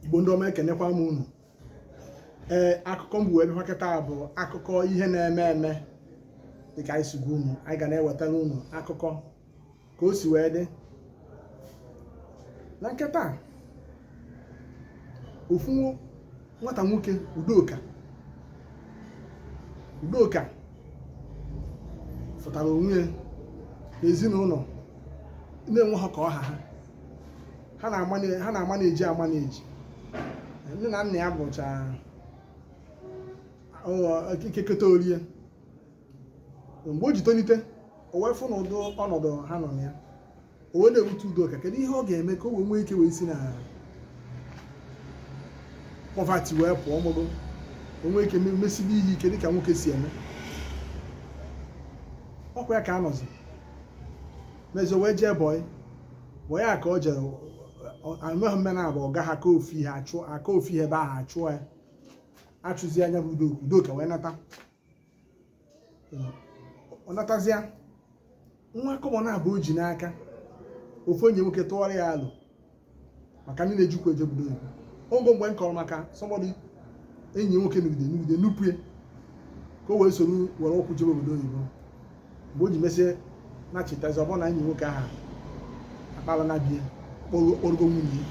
igbo ndị ọma ekenekwa m unu ee akụkọ m bu wee bịa kịta bụ akụkọ ihe na-eme eme dịka anyị si gwa unu anyị ga na-ewetara unu akụkọ ka o si wee dị na nketa ofu nwata nwoke udoka udoka fụtara onwe ya n'ezinụlọ na-enwehọ ka ọ ha ha ha na-amane- ha na-amaneji amaneji nne na nna ya bụcha ọ- ike keta o rie mgbe o ji tonite o wee fụ na ụdị ọnọdụ ha nọ na ya o wee na-ewute udoka kedu ihe ọ ga-eme ka o wee nwee ike wee si na poverty wee pụọ mụgo o nwee ike me- mesibe ihe ike dịka nwoke si eme ọ kwa ya ka a nọzi mezie o wee jee bọị bọị a ka o jere anọghị mme na abụ ọga ya ka ofu ihe ebe ahụ achụọ ya achụzia ya bụ udo udoka wee nata ọ natazịa enwehọ kọbọ ọbụna o ji n'aka ofu enyi ya nwoke tụọrọ ya alo maka ndị na-eji ụkwụ eje obodo oyibo ogo mgbe m kọrọ maka somebody enyi ya nwoke nugide nugide nupu ya ka o wee soro were ụkwụ jebe obodo oyibo mgbe o ji mesie nachitazi ọ bụrụ na enyi ya nwoke ahụ akpala na be ya kpọrọgo nwunye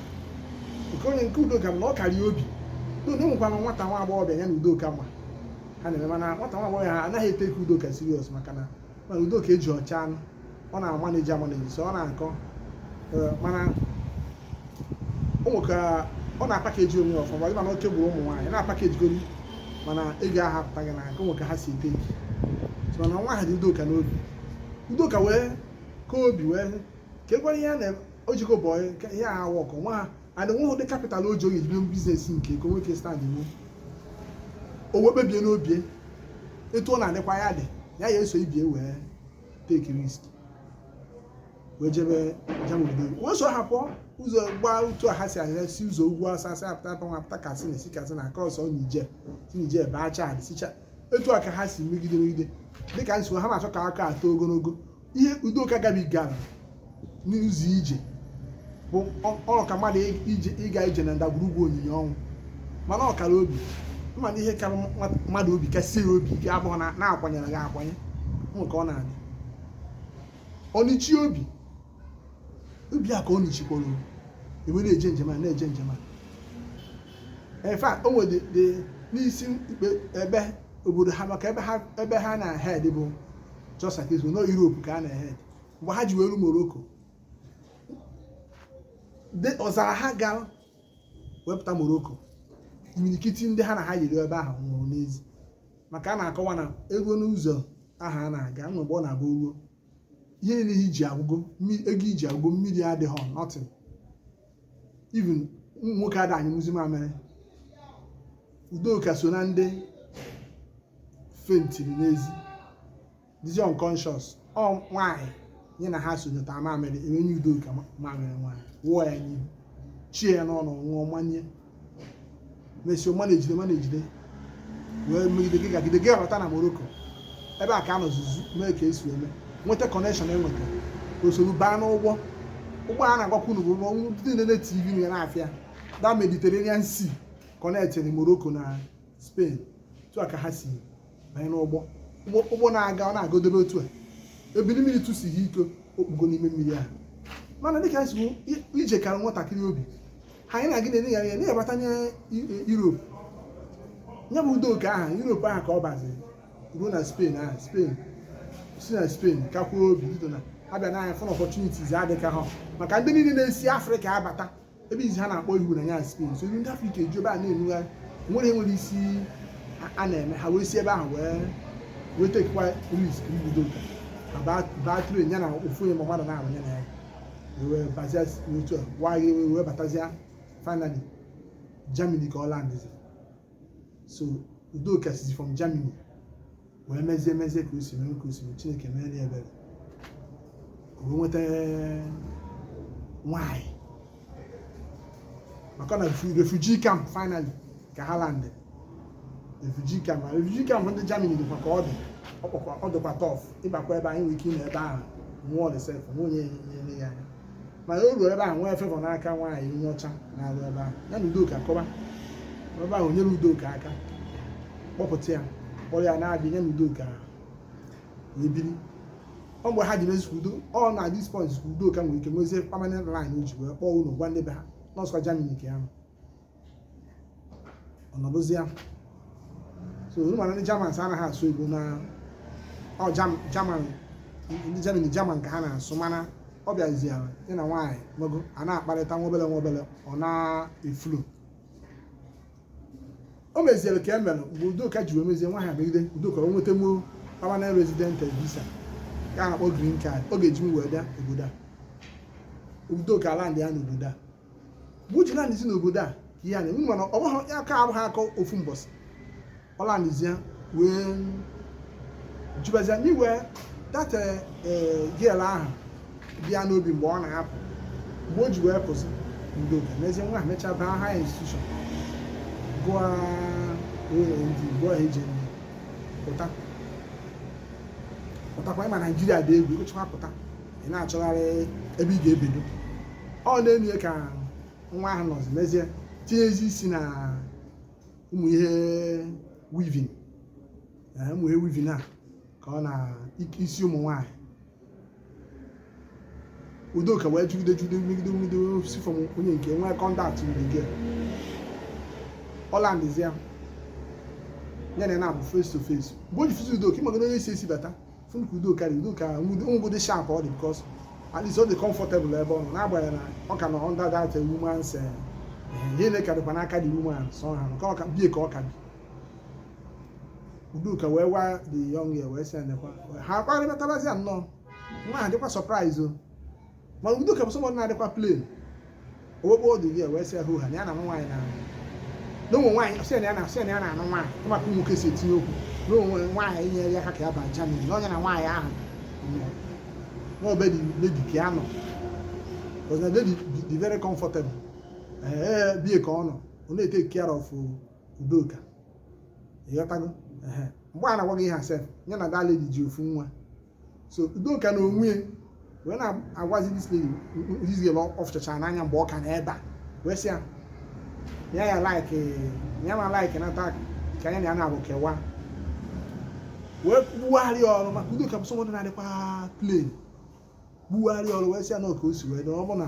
nke onye nke udoka bụ na ọ kara obi udo nwekwana nwata nwa agbọghọbịa ya na udoka ma ha na-eme mana nwata nwa agbọghọ ahụ anaghị etake udoka serious maka na mana udoka eji ọcha anụ ọ na-amaneji amaneji so ọ na-akọ eh, mana ị ma ka ọ na-apakeji onwe ya ọfụma mana oke gburu ụmụ nwaanyị na-apakejigori mana ego ahụ apụtaghị n'aka ị ma ka ha si ete mana nwa ahụ dị udoka n'obi udoka wee kaa obi wee ka ekwere ihe na o jego bọyị ihe a wọkụ nwa ha and nweghị ụdị capital ọ ga-eji bido business nke ya ka o nwee ike stand iwu o wee kpebie n'obi ya etu ọ na-adịkwa ya dị ya ya esoro ibe ya wee take risk wee jebe Germany bido wee so ha pụọ ụzọ gbaa otu a ha si ahịa si ụzọ ugwu awụsa si apụta apụta nwa apụta katsina e si katsina crossọọ niger si niger baa chad sicha etu a ka ha si megide megide dịka m sị na achọhọ ka akụkọ a too ogologo ihe udoka gabigara n'ụzọ ije bụ ka mmadụ ịga ije na ndagwurugwu onyinyo ọnwụ mana ọ kara obi ị ma na ihe kara mmadụ obi kasị ya obi ike abụhọ na a kwanyere gị akwanye ị ma ka ọ na-adị ọnịchi obi obi a ka ọ nụchikwara wee na-eje njem a na-eje njem a in fact o nwere n'isi ikpe ebe obodo ha maka ebe ha ebe ha na head bụ just like this no Europe ka a na head mgbe ha ji wee ru Morocco de ọzara ha gara wee pụta Morocco imirikiti ndị ha na ha yiri ebe ahụ nwụrụ n'ezi maka a na-akọwa na eruo n'ụzọ ahụ a na-aga nwe mgbe ọ na-abụ ruo ihe niile i ji agwụgo mmi- ego i ji agwụgo mmiri adịghị nothing even ụmụ nwoke ada anyụnwuzi mamịrị udoka so na ndị fentiri n'ezi dịzi unconscious ọ nwaanyị ya na ha so nyụta mamịrị e wee nye udoka mamịrị nwaanyị wụọ ya n'ihu chie ya n'ọnụ ṅụọ manye mesịa manejide manejide wee megide gị gagide gị abata na Morocco ebe a ka ha nọzuzu mee ka e si eme nweta connection e nweta o soro baa n'ụgbọ ụgbọ a na-agwakwa unu bụ ụgbọ ndị na-ene tv na ya na-afịa the Mediterranean Sea kọnektịrị Morocco na Spain otu a ka ha si banye n'ụgbọ ụgbọ na-aga ọ na-agodobe otu a ebili mmiri tụsie ike o kpugo n'ime mmiri ahụ mana dịka anyị si hụ i- ije kara nwatakịrị obi ha anyị na gị na-ele ya anya na-abatanye Europe ya bụ Udoka Europe ahụ ka ọ baziri ruo na Spain ahụ Spain si na Spain kakwuo obi bido na abịa na anya fọn opportunities adịka ha maka ndị niile na-esi Afrịka abata ebe izi ha na-akpọ ihu na ya Spain so ndị afrịka eju ebe a na-enugharị nwere enwere isi a na-eme ha wee si ebe ahụ wee wee tekwa risk Udoka baa tren ya na ofu onye ma mmadụ na-ahụ ya na ya wee bazia otu a wee batazie finally germany ka ọ landịzi so udoka sizi from germany wee mezie mezie ka o si mere ka o si mere chineke mere ya ebere ka o nweta nwanyị maka na refu- refugee camp finally ka ha landị refugee camp na refugee camp ndị germany dịkwa ka ọ dị ọ kpọkwa- ọ dịkwa tough ịbakwa ebe anyị nwere ike ịnọ ebe ahụ nwụọ sef nwe onye nyere ya anya mana o ruo ebe ahụ nwee favour n'aka nwaanyị onye ọcha na-arụ ebe ahụ ya na udoka kọba ebe ahụ nyere udoka aka kpọpụta ya kpọrọ ya na be ya ya na udoka wee biri ọ mgbe ha ji mezi udo ọ na this point udoka nwere ike nwezie permanent line o ji wee kpọọ ụlọ gwa ndị be ha na ọ bụzikwa Germany ka ya nọ ọ nọdụzia so unu ma na ndị Germans anaghị asụ Igbo na ọ German ndị Germany German ka ha na-asụ mana ọ bịaziara dị na nwaanyị nwogo a na-akparịta nwa obele nwa obele ọ na-eflow o meziere ka e mere mgbe Udoka ji wee mezie nwaanyị a megide Udoka o nwetanwuo permanent resident visa ka a na-akpọ green card ọ ga-eji m wee bịa obodo a Udoka landia na obodo a mgbe o ji landzi n'obodo a ka ihe a na-eme mana ọ bụghị ya aka abụghị aka ofu mbọsị ọ landizie wee jibazia n'iwe that girl ahụ bịa n'obi mgbe ọ na-apụ mgbe o ji wee pụzi udoka n'ezie nwa ahụ mechaa baa higher institution gụọ OND gụọ HND pụta pụtakwa ị ma naijiria dị egwu ị gụkwa pụta ị na-achọgharị ebe ị ga-ebido ọ na-enu ya ka nwa ahụ nọzi mezie tinyezi isi na ụmụ ihe weaving ee, ụmụ ihe weaving a ka ọ na ik- isi ụmụ nwaanyị udoka wee jugide jugide megide megide si from onye nke nwee contact mgbe nke ọ landzịa ya na ya na-abụ face to face mgbe o ji fụzi udoka ị magoro onye si esi bata fụnụ ka udoka dị udoka ngwụ dị sharp ọ dị because at least ọ dị comfortable ebe ọ nọ n'agbanyeghị na ọ ka nọ under that woman's eh, eh, ihe nile ka dịkwa n'aka the woman so ha nke ọ ka be ya ka ọ ka bi udoka wee gwa the young girl wee sị ya nekwa ha kparịbatarazi ya nnọọ nwa ahụ dịkwa surprise o mana udoka bụ somebody na-adịkwa plain o wee kpọọ the girl wee sị ya hoo ha na ya na nwaanyị na na ụmụ nwaanyị sị na ya na sị na ya na-anụ nwaanyị maka ụmụ nwoke si etinye okwu na o nwe nwaanyị nyere ya aka ka ya ba Germany na ọ ya na nwaanyị ahụ na ọ be the lady ka ya nọ because na lady dị very comfortable ee be ya ka ọ nọ ọ na-etake care of udoka ị ghọtago mgbe a na-agwa gị ihe a sef ya na that lady ji ofu nwa so udoka na onwe ya wee na-agwazi this lady izizi ebe ọ fụchachara n'anya mgbe ọ ka nọ ebe a wee sị ya ya ya like ya ma like na taa ka anya na ya na-abụ kewa wee gbugharịa ọrụ maka udoka bụ somebody na-adịkwa plain gbugharịa ọrụ wee sị ya na ọ ka o si wee dị ọ bụ na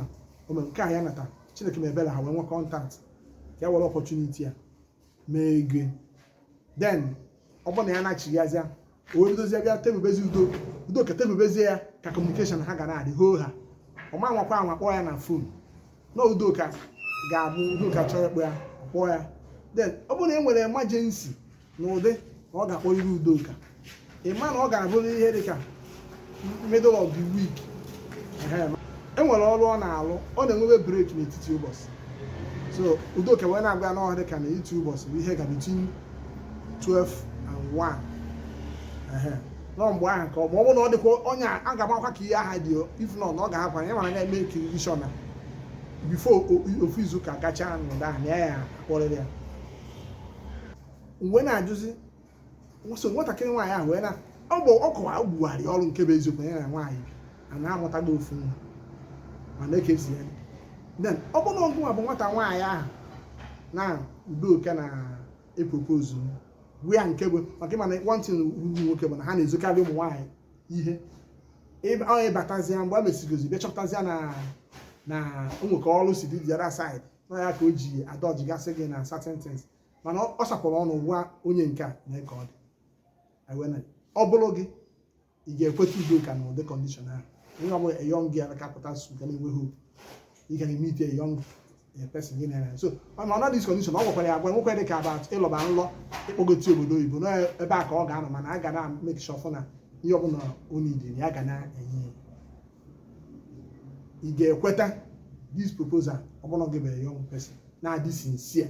ome nke a ya nata chineke mebere ha wee nwee contact ka e were opportunity a mee ego then ọ bụrụ na ya na-achịghazịa o wee bidozie bịa tebubezi udo udoka tebubezie ya ka communication ha ga na-adị hoo ha ọ ma nwakwa anwa kpọọ ya na phone na udoka ga-abụ udoka chọrọ ịkpọ ya kpọọ ya then ọ bụrụ na e nwere emergency n'ụdị na ọ ga-akpọrịrị udoka ị ma na ọ ga-abụrụ ihe dị ka middle of the week e nwere ọrụ ọ na-alụ ọ na-enwebe break n'etiti ụbọchị so udoka wee na-agwa ya na ọ dị ka n'etiti ụbọchị bụ ihe ka between 12 and 1 na ọ mgbe ahụ ka ọ ma ọ bụrụ na ọ dịkwa onye a ga-amakwa ka ihe ahụ dị if not na ọ ga-ahapụ ya mana ga-emakerị sure na before ofu izu ka gachaa n'ụdị ahụ na ya ya-akpọrịrị ya mgbe na-ajụzi so nwatakịrị nwaanyị ahụ wee na ọ bụ ọ kọwa ọ gbugharị ọrụ nke bụ eziokwu ya na nwaanyị a na-amụtago ofu nwa mana ekezi ya then ọ bụrụ na ọ gịnwa bụ nwata nwaanyị ahụ na Udoka na-epropose ihe a nke bụ maka ị ma na one thing ụmụ nwoke bụ na ha na-ezokarị ụmụ nwaanyị ihe Ịba- ọ ị batazia mgbe a mesigozi bịa chọpụtazia na na o nwe ka ọrụ si dị the other side na ya ka o ji adọjigasị gị na certain things mana ọ sapụrụ ọnụ gwa onye nke a nee ka ọ dị ọ bụrụ gị ị ga-ekweta Udoka na ụdị condition ahụ onye ọ bụla a young girl ka pụta su ga na-enwe hope ị ga na-emeet a young person gị na ya so mana ọ na ụdị condition ọ gwakwara ya agwa nwekwa dị ka about ịlọba n'ụlọ ịkpọgoti obodo oyibo na ebe a ka ọ ga-anọ mana a ga na make sure fụ na ihe ọbụla o needịrị ya ga na-enye ya ị ga-ekweta this proposal ọ bụrụ gị bụrụ a young person na-adị sincere